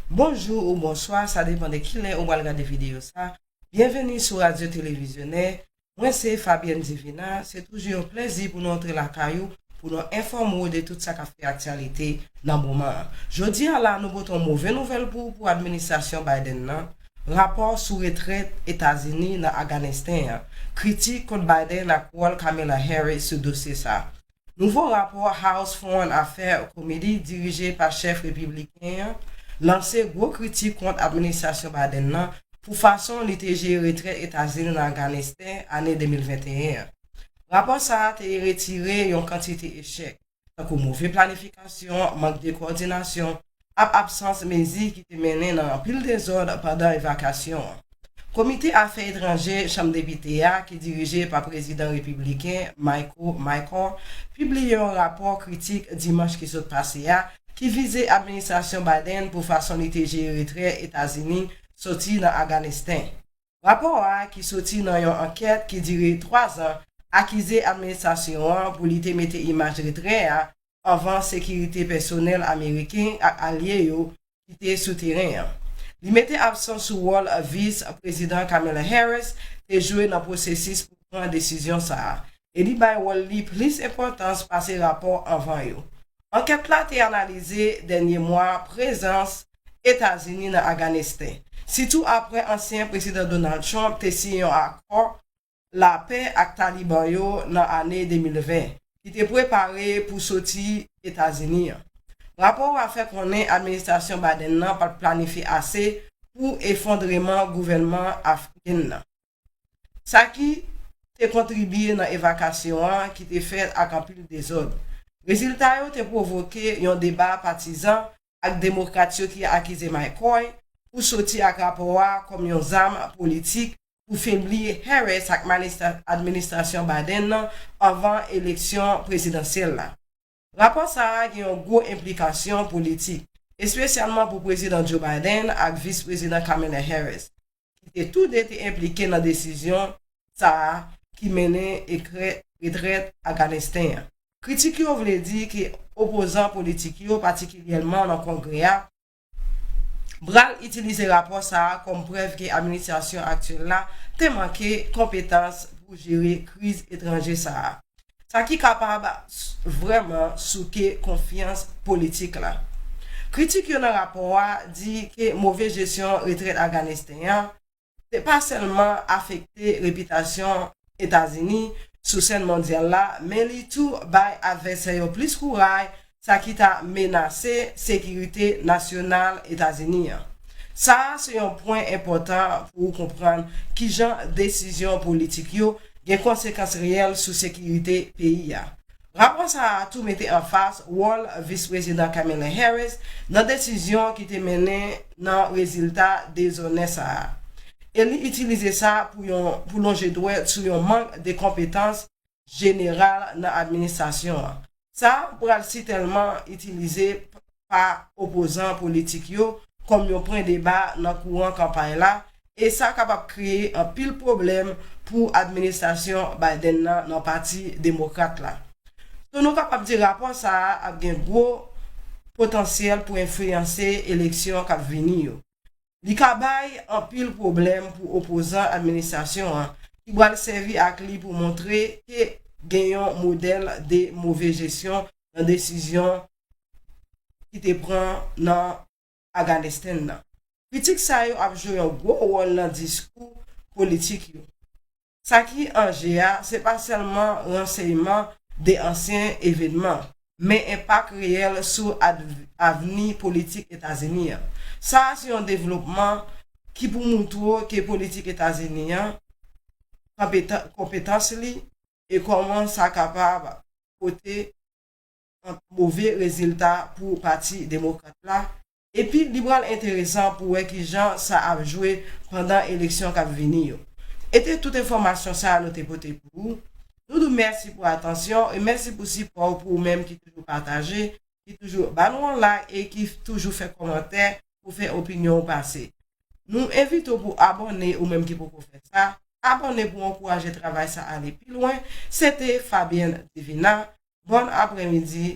Bonjou ou bonswa sa depan de kilè ou pral gade videyo sa, byenveni sou radyo televizyonè, mwen se Fabienne Divina, se toujou yon plèzi pou nou antre lakay ou pou nou enfòme ou de tout sa kap fè aktyalite nan moman an. Jodi a la nou pote yon move nouvèl pou ou pou administrasyon Biden nan, rapò sou retrèt Etazini nan Aganesten an, kritik kont Biden ak wòl Kamala Harris sou dosye sa. Nouvo rapò House Foreign Affairs Committee dirije pa chèf repibliken an lanse gwo kritik kont administrasyon Biden nan pou fason li te jere retrè Etazini nan Afganisten ane 2021 an. Rapò sa a te retire yon kantite echèk, tankou move planifikasyon, mank de kowòdinasyon, ap absans mezi ki te mennen nan anpil dezòd pandan evakasyon an. Komite Afè Etranje Chanm Depite a, ki dirije pa Prezidan Repibliken Michael McCaul, pibliye yon rapò kritik dimanch ki sot pase a ki vize administrasyon Biden pou fason li te jere retrè Etazini soti nan Aganesten. Rapò a, ki soti nan yon ankèt ki dire 3 zan, akize administrasyon an pou li te mete imaj retrè a anvan sekirite pèsonèl ameriken ak alye yo ki te sou teren an. Li mete absan sou wòl Vis Prezidan Kamala Harris te jwe nan pwosesis pou pran desizyon sa a e li bay wòl li plis enpòtans pase rapò anvan yo. Ankèt la te analize dènye mwa prezans Etazini nan Aganesten, sitou apre ansyen Prezidan Donald Trump te siyen yon akò lapè ak Taliban yo nan ane 2020, ki te prepare pou soti Etazini an. Rapò a fè konnen administrasyon Biden nan pat planifye ase pou efondreman gouvènman afghan nan, sa ki te kontribye nan evakasyon an ki te fèt ak anpil dezòd. Rezilta yo te pwovoke yon deba patizan ak Demokrat yo ki akize McCoy pou soti ak rapò a kòm yon zam politik pou febli Harris ak administrasyon Biden nan anvan eleksyon prezidansyèl la. Rapò sa a gen yon gwo enplikasyon politik, espesyalman pou Prezidan Joe Biden ak Vis-Prezidan Kamala Harris. ki te tou de te enplike nan desizyon sa a ki mennen ekrè retrèt Aganesten an. Kritik yo vle di ke opozan politik yo, patikilyèman nan Kongrè a, pral itilize rapò sa a kòm prèv ke administrasyon aktyèl la te manke konpetans pou jere kriz etranje sa a. sa ki kapab vrèman souke konfyans politik la. Kritik yo nan rapò a di ke move jesyon retrèt Afganisten an te pa sèlman afekte repitasyon Etazini sou sèn mondyal la men li tou bay advèsè yo plis kouray sa ki ta menase sekirite nasyonal Etazini an. Sa a se yon pwen enpòtan pou ou konprann kijan desizyon politik yo gen konsekans reyèl sou sekirite peyi a. Rapò sa a tou mete anfas wòl Vis Prezidan Kamala Harris nan desizyon ki te mennen nan rezilta dezonè sa a, e li itilize sa pou yon pou lonje dwèt sou yon mank de konpetans jeneral nan administrasyon an. Sa pral sitèlman itilize pa opozan politik yo kòm yon pwen deba nan kouran kanpay la e sa kapab kreye anpil pwoblèm pou administrasyon Biden nan nan pati demokrat la. So nou kapab di rapò sa a ap gen gwo potansyèl pou enfliyanse eleksyon k ap vini yo. Li ka bay anpil pwoblèm pou opozan administrasyon an ki pral sèvi ak li pou montre ke gen yon modèl de move jesyon nan desizyon ki te pran nan Aganesten nan. Kritik sa yo ap jwe yon gwo wòl nan diskou politik yo. Sa ki an je a, se pa sèlman ranseyman de ansyen evenman, men enpak reyèl sou avni politik Etazini an. Sa a se yon devlopman ki pou moutwo ke politik Etazini an, konpetans li, e kòman sa kapab pote move rezilta pou Pati Demokrat la Epi li pral enteresan pou wè ki jan sa ap jwe pandan eleksyon k ap vini yo. E te tout enfòmasyon sa nou te pote pou ou. Nou di w mèsi pou atansyon e mèsi pou sipò w pou ou menm ki toujou pataje, ki toujou ba nou yon like e ki toujou fè kòmantè pou fè opinyon ou pase. Nou envite w pou w abòne ou menm ki poko fè sa, abòne pou w ankouraje travay sa ale pi lwen. Se te Fabienne Divina. Bòn aprèmidi.